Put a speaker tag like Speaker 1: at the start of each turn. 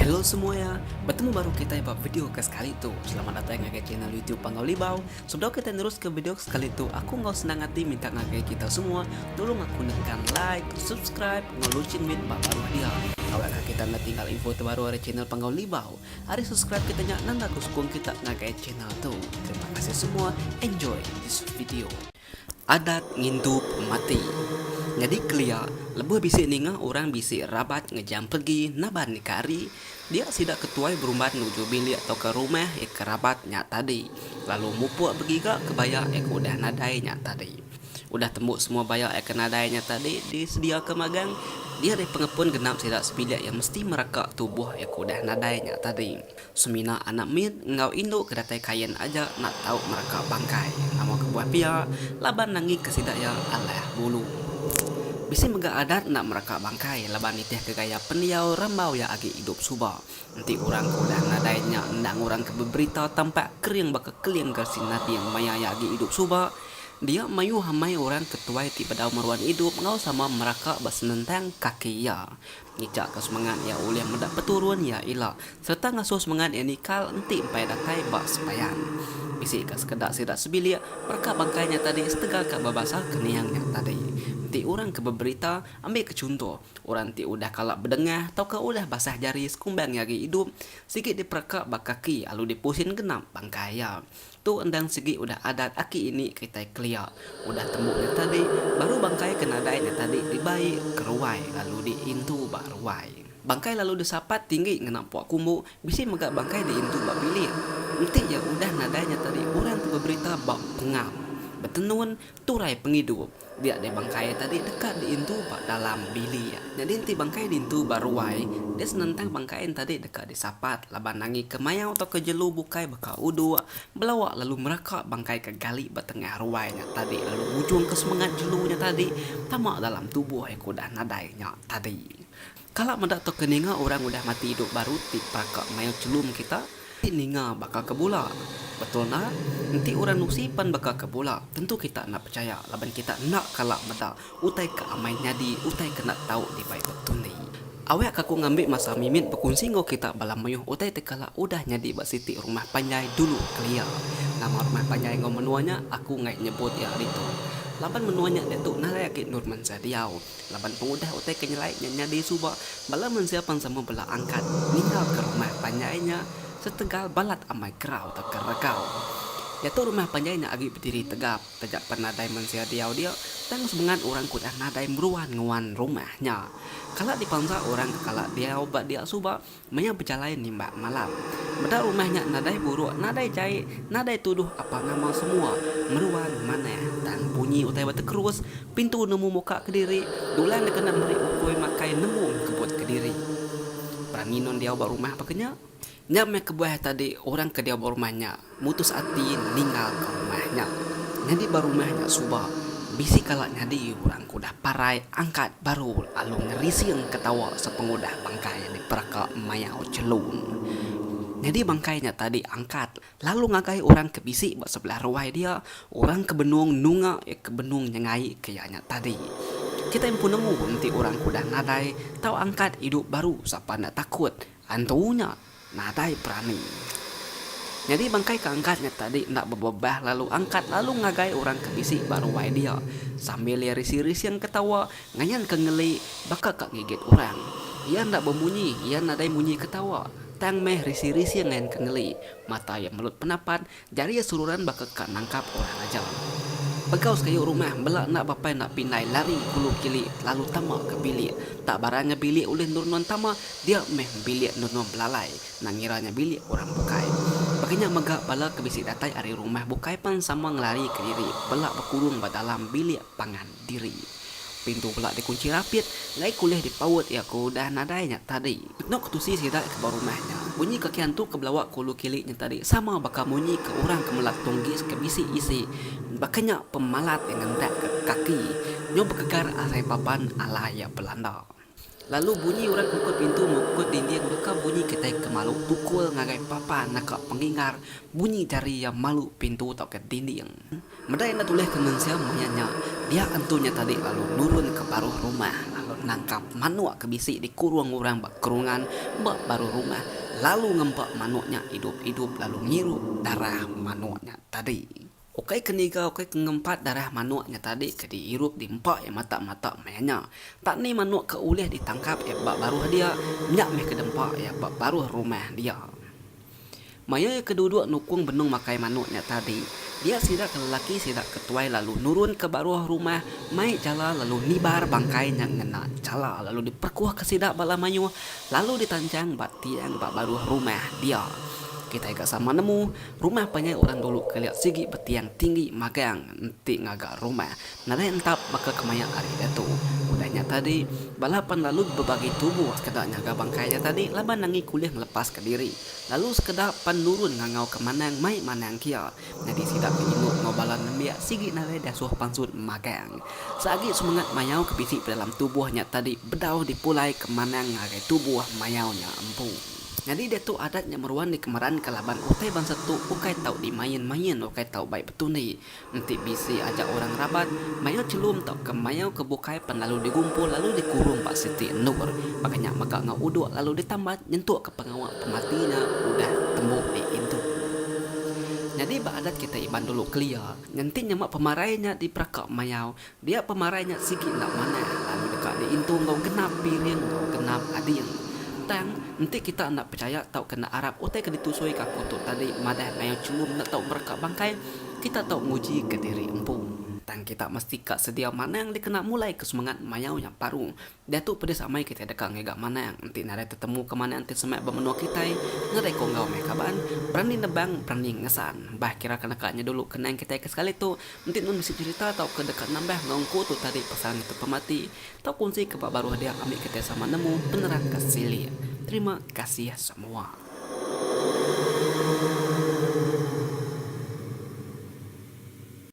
Speaker 1: Hello semua ya, bertemu baru kita ba video ke sekali tu. Selamat datang ngagai channel YouTube Panggau Libau. Sebelum kita nerus ke video ke sekali tu, aku ngau senang hati minta ngagai kita semua tolong aku nekan like, subscribe, ngau loceng mit ba baru dia. Awak kita nak tinggal info terbaru dari channel Panggau Libau. Ari subscribe kita nya nang ngaku sukung kita ngagai channel tu. Terima kasih semua. Enjoy this video. Adat ngintu pemati. Nyadi kelia, lebuh bisi ninga orang bisi rabat ngejam peregi naban ika hari, dia sida ke tuai berumban nuju bilik tauka rumah ika rabat nya tadi, lalu mupuk begiga kebaya ika udah nadai nya tadi. Udah tembu semua baya ai ke nadai nya tadi disediaka magang, dia ari pengepun genap sida sebilik iya mesti mereka tubuh iya ke udah nadai nya tadi. Semina anak mit enggau indu ke datai Kayen aja enda tau mereka bangkai nama kebuah pia laban nangika sida iya alah bulu. Bisi mega adat enda mereka bangkai laban nitihka gaya pendiau rambau iya agi idup suba. Enti orang ke udah nadai nya enda ngurangka beberita tampak kering baka keling gersi nading maya iya agi idup suba, Dia mayuh amai orang ke tuai ti bedau meruan idup enggau sama meraka ba senentang kaki iya. Ngijaka semengat iya ulih meda peturun iya ila sereta ngasuh semengat iya nikal enti empai datai ba sembahyang. Bisi ka sekeda sida sebilik mereka bangkai nya tadi setegal ka bebasa keninga nya tadi. Enti orang ke beberita, ambika chunto, orang ti udah kala bedengah tauka udah basah jari sekumbang iya agi idup, sigi diperaka ba kaki lalu dipusin genap bangkai iya. Tu endang sigi udah adat aki ini kitai kelia. Udah tembu nya tadi, baru bangkai ke nadai nya tadi dibai ke ruai lalu diintu ba ruai. Bangkai lalu disapat tinggi ngena pua kumbu, bisi mega bangkai diintu ba bilik. Enti iya udah nadai nya tadi orang ti beberita ba pengam, betenun, Turai pengidup, dia deh bangkai tadi deka diintu ba dalam bilik. Nyadi enti bangkai diintu ba ruai, dia senentang bangkai en tadi deka disapat laban nangi ke mayau tauka jelu bukai baka uduk, belawa lalu meraka bangkai ke gali ba tengah ruai nya tadi lalu ngujungka semengat jelu nya tadi tama dalam tubuh udah nadai nya tadi. Kala meda tu ke ninga orang udah mati idup baru ti peraka mayuh chelum kita ti ninga baka ke bula. Betul enda, enti orang nusi pan baka ke bula tentu kita enda pechaya laban kita enda kala meda utai ke amai nyadi utai ke enda tau dibai betundi. Awakka aku ngambi masa mimit bekunsi enggau kita bala mayuh utai ti kala udah nyadi ba siti rumah panjai dulu kelia. Nama rumah panjai enggau menua nya aku enggai nyebut iya ari tu laban menua nya diatu nalai agi Norman Sadiau. Laban pengudah utai ke nyelai nya nyadi suba bala mensia pan sama bela angkat ninggalka rumah panjai nya setegal balat amai kerau tauka regau. Diatu rumah panjai nya agi bediri tegap taja pan nadai mensia diau dia tang semengat orang ke udah nadai meruan nguan rumah nya kala dipansa orang ke kala diau ba dia suba Maya bejalai nimbak malam. Meda rumah nya nadai buruk, nadai jai, nadai tuduh apa nama semua meruan manah. Tang bunyi utai betekerus, pintu nemu muka kediri, Dulan dikena meri ukui makai nemu mengkebut kediri. Berani non diau ba rumah baka nya? Nya meh kebuah tadi orang ke diau ba rumah nya. Mutus ati ninggalka rumah nya. Nyadi ba rumah nya suba bisi kala nyadi orang ke udah parai angkat baru lalu ngerising ke tawa sepengudah bangkai diperaka mayau chelun. Nyadi bangkai nya tadi angkat lalu ngagai orang ke bisi ba sebelah ruai dia, orang ke benung nunga iya ke benung nyengaika iya nya tadi. Kitai empu nemu enti orang ke udah nadai tau angkat idup baru sapa enda takut antu nya. Nadai berani. Nyadi bangkai ke angkat nya tadi enda bebebah lalu angkat lalu ngagai orang ke bisi ba ruai dia sambil iya rising-rising ketawa ngayan ke ngeli baka ka ngigit orang. Iya enda bemunyi, iya nadai munyi ketawa tang meh rising-rising ngayan ke ngeli. Mata iya melut penapat Jari iya sururan baka ka nangkap orang aja. Pegau sekayu rumah embela enda bapai enda pindai lari kulu kili lalu tama ka bilik. Tak baran nya bilik ulih endur nuan tama, dia meh bilik endur nuan belalai enda ngira nya bilik orang bukai. Baka nya mega bala ke bisi datai ari rumah bukai pan sama ngelari ka diri bela bekurung ba dalam bilik pangan. diri. Pintu bela dikunchi rapit ngai kulih dipaut iya ku udah nadai nya tadi. Eno ketusi sida ke ba rumah nya. Munyi ke kiantu ke belawa ke ulu kili nya tadi sama baka munyi ke orang ke melat tunggis ke bisi isi baka nya pemalat ngentak ke kaki nyau bekegar asai papan alai iya belanda. Lalu bunyi urat muka pintu muka dinding deka bunyi kitai ke malu pukul ngagai papa naka pengingar bunyi jari iya malu pintu tauka dinding. Meda enda tulih ke mensia maya nya, dia antu nya tadi lalu nurun ke baruh rumah lalu nangkap manuk ke bisi dikurung orang ba kerungan ba baruh rumah lalu ngempa manuk nya idup-idup lalu ngirup darah manuk nya tadi. Ukai ke niga ukai ke ngempat darah manuk nya tadi ke diirup di empa iya matak-matak maya nya. Enta ni manuk ke ulih ditangkap iya ba baruh dia, nya meh ke dempa iya ba baruh rumah dia. Maya iya ke duduk nukung benung makai manuk nya tadi, dia sida ke lelaki sida ke tuai lalu nurun ke baruh rumah mai jala lalu nibar bangkai nya ngena jala lalu diperkuh ke sida bala mayuh lalu ditanjang ba tiang ba baruh rumah dia. Kitai ga sama nemu Rumah panjai orang dulu kelia sigi betiang tinggi magang enti ngaga rumah nadai entap baka kemaya ari diatu. Udah nya tadi, bala pan lalu bebagi tubuh sekeda nyaga bangkai nya tadi laban nanggi kulih ngelepaska diri lalu sekeda pan nurun ngangauka Manang mai Manang kia nyadi sida ke indu enggau bala nembiak sigi nadai diasuh pansut magang. Seagi semengat mayau ke bisi pedalam tubuh nya tadi bedau dipulaika Manang ngagai tubuh mayau nya empu. Nyadi diatu adat nya meruan dikemeranka laban utai bansa tu ukai tau dimain-main, ukai tau bai betundi. Enti bisi aja orang rabat, mayau chelum tauka mayau ke bukai pen lalu digumpul lalu dikurung ba siti endur. Baka nya mega enggau uduk lalu ditambat nyentukka pengawa pemati nya udah tembu diintu. Nyadi ba adat kitai Iban dulu kelia, nganti nyema pemarai nya diperaka mayau Dia pemarai nya sigi enda manah lalu deka diintu enggau genap piring enggau genap ading. Tang, enti kita enda pechaya tauka enda arap utai ke ditusuika aku tu tadi madah mayuh chulum enda tau mereka bangkai, kita tau ngujika diri empu. Tang kita mesti ka sedia manang dikena mulaika semengat mayau nya baru. Diatu pedis amai kitai deka ngiga manang enti nadai tetemu ke manang ti semak ba menua kitai, ngerai ku enggau meh kaban, berani nebang, berani ngesan. Bah kira ke neka nya dulu kenang kitai ke sekali tu, enti nuan bisi cherita tauka deka nambah enggau engku tu tadi pasal ngetu pemati, tau kunsi ke ba baruh dia ambi kitai sama nemu penerang ke silik. Terima kasih semua.